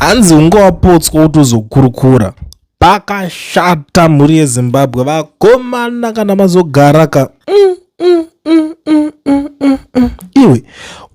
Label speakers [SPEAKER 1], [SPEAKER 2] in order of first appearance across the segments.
[SPEAKER 1] hanzi unge wapotswa kuti uzokurukura pakashata mhuri yezimbabwe vakomana kana mazogara ka mm, mm, mm, mm, mm, mm, mm. iwe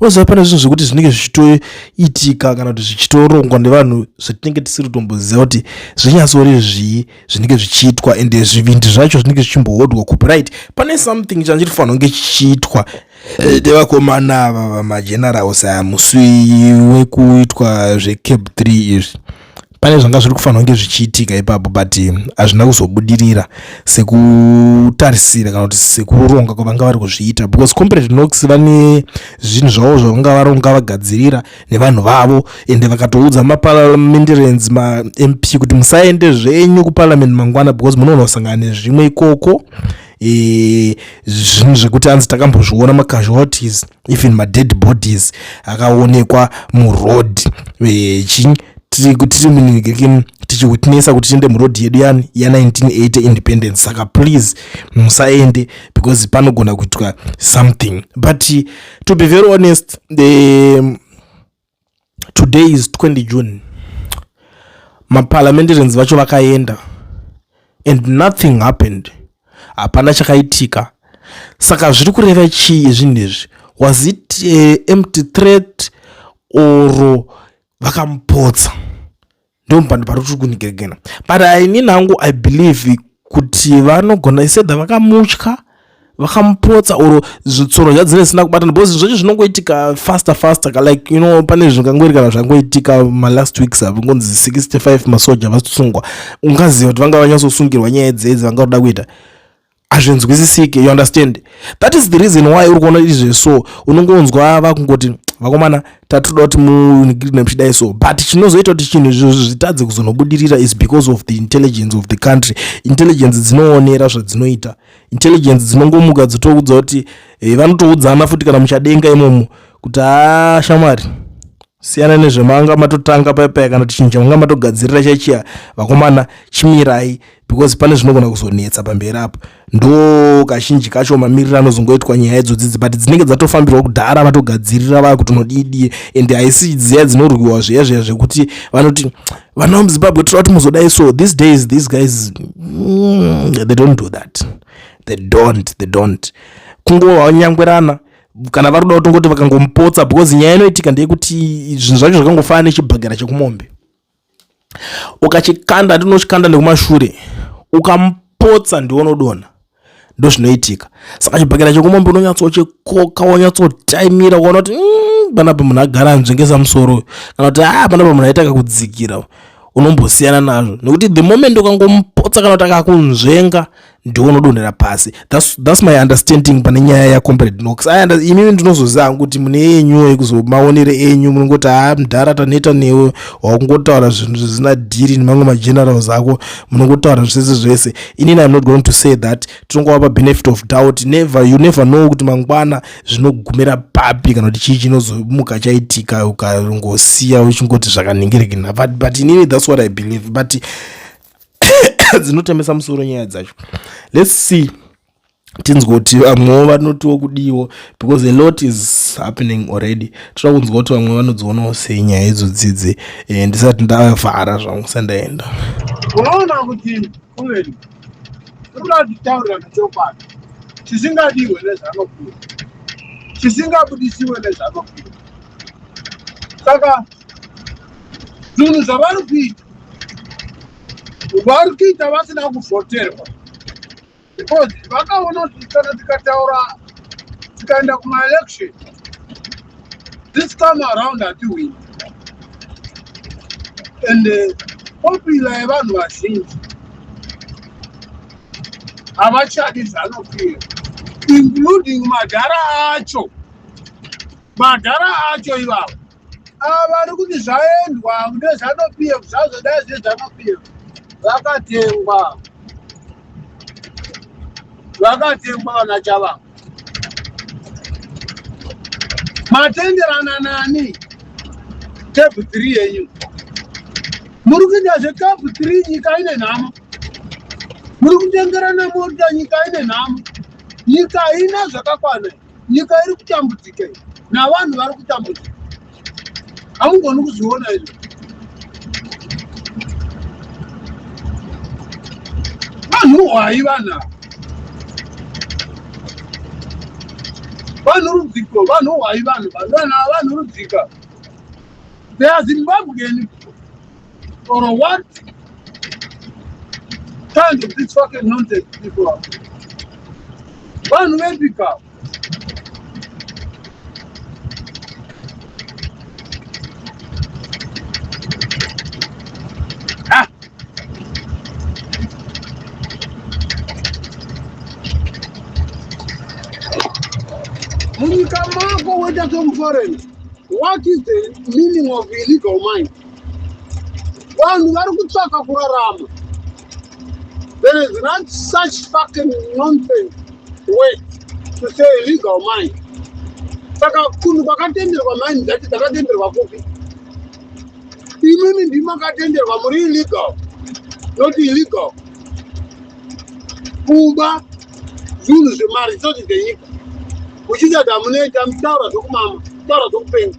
[SPEAKER 1] unoziva pane zvinhu zvekuti zvinenge zvichitoitika kana kuti zvichitorongwa nevanhu zvatinenge tisiri kutomboziva kuti zvinyatsori zvii zvinenge zvichiitwa ende zvivindi zvacho zvinenge zvichimbohodwa kupi right pane something change tifanira kunge chichiitwa ndevakomana ava vamagenerals aya musi wekuitwa zvecap 3 izvi pane zvanga zviri kufanira kunge zvichiitika ipapo but hazvina kuzobudirira sekutarisira kana kuti sekuronga kwavanga vari kuzviita because comparate nox vane zvinhu zvavo zvavanga varonga vagadzirira nevanhu vavo ende vakatoudza maparliamentarans mamp kuti musaende zvenyu kuparliament mangwana because munoona kusangana nezvimwe ikoko e, zvinhu zvekuti anzi takambozviona macasualties even madead bodies akaonekwa muroad e, chinyi tiri kuti tiri munigekini tichiwitnessa kuti tiende muroad yedu yani ya1980 independence saka please musaende because panogona kuitwa something but to be very honest the today is 20 june maparliamentarians vacho vakaenda and nothing happened hapana chakaitika saka zviri kureva chii zvinhu izvi was it uh, empty threat or vakamupotsa ndomupando pari kuti kunigeregena but inini hangu i believe kuti vanogona isedha vakamutya vakamupotsa or zvitsoro zvadzine zisina kubatana because zvinhu zvacho zvinongoitika faster faster ka like you know pane zvingangoiri kana zvangoitika malast weeks avo ngonzi 65 masoja vasungwa ungaziva kuti vanga vanyatsosungirwa nyaya dzedzi vanga kuda kuita hazvinzwisisike you understand that is the reason why uri kuona izve so unongonzwa vakungoti vakomana tatoda kuti munikirine muchidai so but chinozoita kuti chinhu izvozvo zvitadze kuzonobudirira is because of the intelligence of the country intelligence dzinoonera zvadzinoita intelligence dzinongomuka dzotokudza kuti eh, vanotoudzana futi kana muchadenga imomo kuti haa shamwari siyana nezvemanga matotanga paya paya kana tichinja manga matogadzirira chachiya vakomana chimirai because pane zvinogona kuzonetsa pamberi apo ndo kazhinji kacho mamiriro anozongoitwa nyaya idzodzidzi but dzinenge dzatofambirwa kudhara vatogadzirira vaya kuti unodidie and haisi dziya dzinorwiwa zviya zviya zvekuti vanoti vana vemuzimbabwe tira kuti muzodai so these days these guys mm, they don't do that they don't they don't kungova nyangwerana kana vari kuda kutongoti vakangomupotsa because nyaya inoitika ndeyekuti zvinhu zvacho zvakangofana nechibhagara chekumombe ukachikanda hati unochikanda nekumashure ukamupotsa ndiwo unodonha ndo zvinoitika saka chibhakera chekumombe unonyatsochikoka wonyatsotaimira ukaona kuti mm, panapa munhu agara anzvengesa musoro kana kuti a ah, panapa munhu aitaka kudzikira unombosiyana nazvo nekuti the moment ukangomupotsa kana kuti akakunzvenga ndiwo unodonhera pasi that's, that's my understanding pane nyaya yacomrade nox imimi ndinozoziva hangu kuti mune yenyu yekuzomaonere enyu munongoti haa ah, mdhara taneta newe wakungotaura zvinhu zvisina dhiri nemamwe magenerals ako munongotaura zvese zvese inini im not going to say that tinongowapa benefit of doubt never you never know kuti mangwana zvinogumira papi kana kuti chii chinozomuka chaitika ukangosiya uchingoti zvakanhingiririkina but, but inini that's what i believe but dzinotemesa musoro nyaya dzacho let's see tinzwa kuti vamwewo vanotiwo kudiwo because a lot is happening already toda kunzwa kuti vamwe vanodzionawo sei nyaya idzo dzidzi eh, ndisati ndavhara zvangu sandaenda unoona kuti kuweni tikuda
[SPEAKER 2] kutitaurira zvechokwadi chisingadiwe nezvanokuwa chisingabudisiwe nezvanokuwa saka zvinhu zvavari kuita vari kuita vasina kuvhoterwa because vakaona kuti kana tikataura tikaenda kumaelection this time around hatiwini and uh, popula yevanhu vazhinji havachadi zanopira including madhara acho madhara acho ivavo ava vari kuti zvaendwa nezvanopf zvazvo dai zvine zvanopf vakatengwa vakatengwa vana chava matenderana nani kepu three yenyu muri kuita zvekapu three nyika ine nhamo muri kutengerana mota nyika ine nhamo nyika haina zvakakwana nyika iri kutambudzika iyi navanhu vari kutambudzika hamugoni kuzviona izvo vanhu hwayi vanhu ava vanhu rudziko vanhu hwayi vanhu vanhu vanhu rudzika they are zimbabwean or what kind of this fucking nonsense people are vanhu vepika munyika mako woita zvemuforeign what is the meaning of illegal mind vanhu vari kutsvaka kurarama there is not such fucking nonsense way to say legal mind saka kunhu kwakatenderwa mind dzacho dzakatenderwa kupi imimi ndimakatenderwa muri illegal not illegal kuba zvinhu zvemari zvisati zvenyika muchiti ati hamunoita mutaura zvokumama mutaura zvokupenga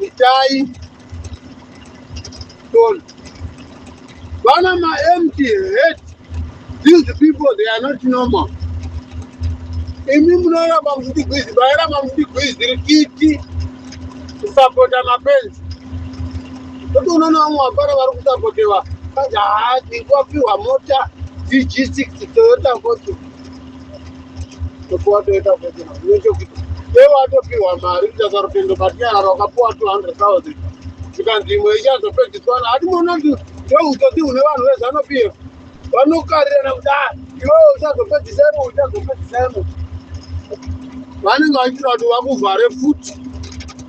[SPEAKER 2] Itai don't. Vana ma empty head. These people they are not normal. Imi munoramba muchitigwizi, vairamba muchitigwizi rikiti kusapota mapenzi. Kuti unoona vamwe vapara vari kusapotewa. Kaja haa, ndikuwapiwa mota DG6 Toyota Fortune. topiwa toita kuti nechekuti iwe watopiwa mari kutasa rutendo but nyarara wakapiwa 200000 zvikanzi imwe ichazopedziswana hati mona ndoutsotsi hune vanhu vezano p f vanokarirana kudai iwewe uchazopedzisa imo uchazopedzisa imo vanenge vaitira kuti vakuvhare futi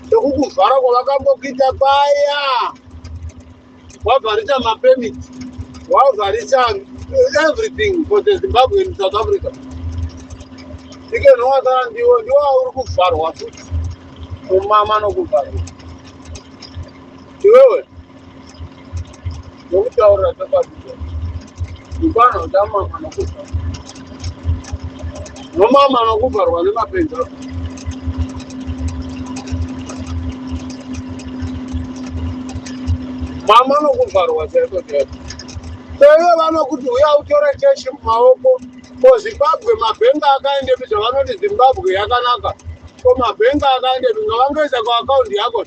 [SPEAKER 2] sekukuvhara kwavakambokuita paya wavharisa mapermit wavharisa everything for the zimbabwe in south africa ikenowakaa ndiwo ndiwo auri kuvharwa futi kumama nokuvharwa iwewe nokutaurira chokwadi ndipano ndamama nokuvharwa nomama anokuvharwa nemapenzi ako mama anokuvharwa chaiko chaiko seiwe vanokuti uya utore cheshi mumaoko ko zimbabwe mabhenga akaende mi zvavanoti zimbabwe yakanaka ko mabhenga akaende mi ngavangoisa kuakaundi yako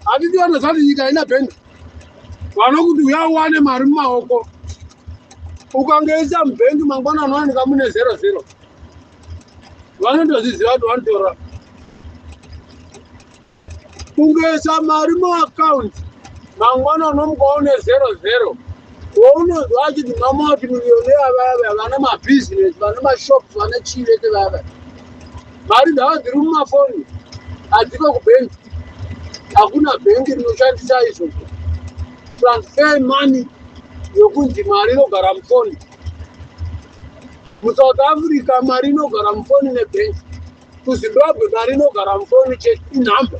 [SPEAKER 2] handiti vanozvati nyika haina bhenga vanokuti uya uwane mari mumaoko ukangeisa mubhengi mangwana anowanika mune zero zero vanotozviziva kuti vanotora kungeisa mari muakaunti mangwana unomuka une zero zero waunonzwa achiti mamauti miriyoni yavayavaya vane mabhizinesi vane mashops vane chii vese vayavaya mari ndava ndiri mumafoni handiko kubank hakuna bhengi rinoshandisa izvo transfer money yokunzi mari inogara mufoni musouth africa mari inogara mufoni nebhengi kuzimbabwe mari inogara mufoni chete inhamba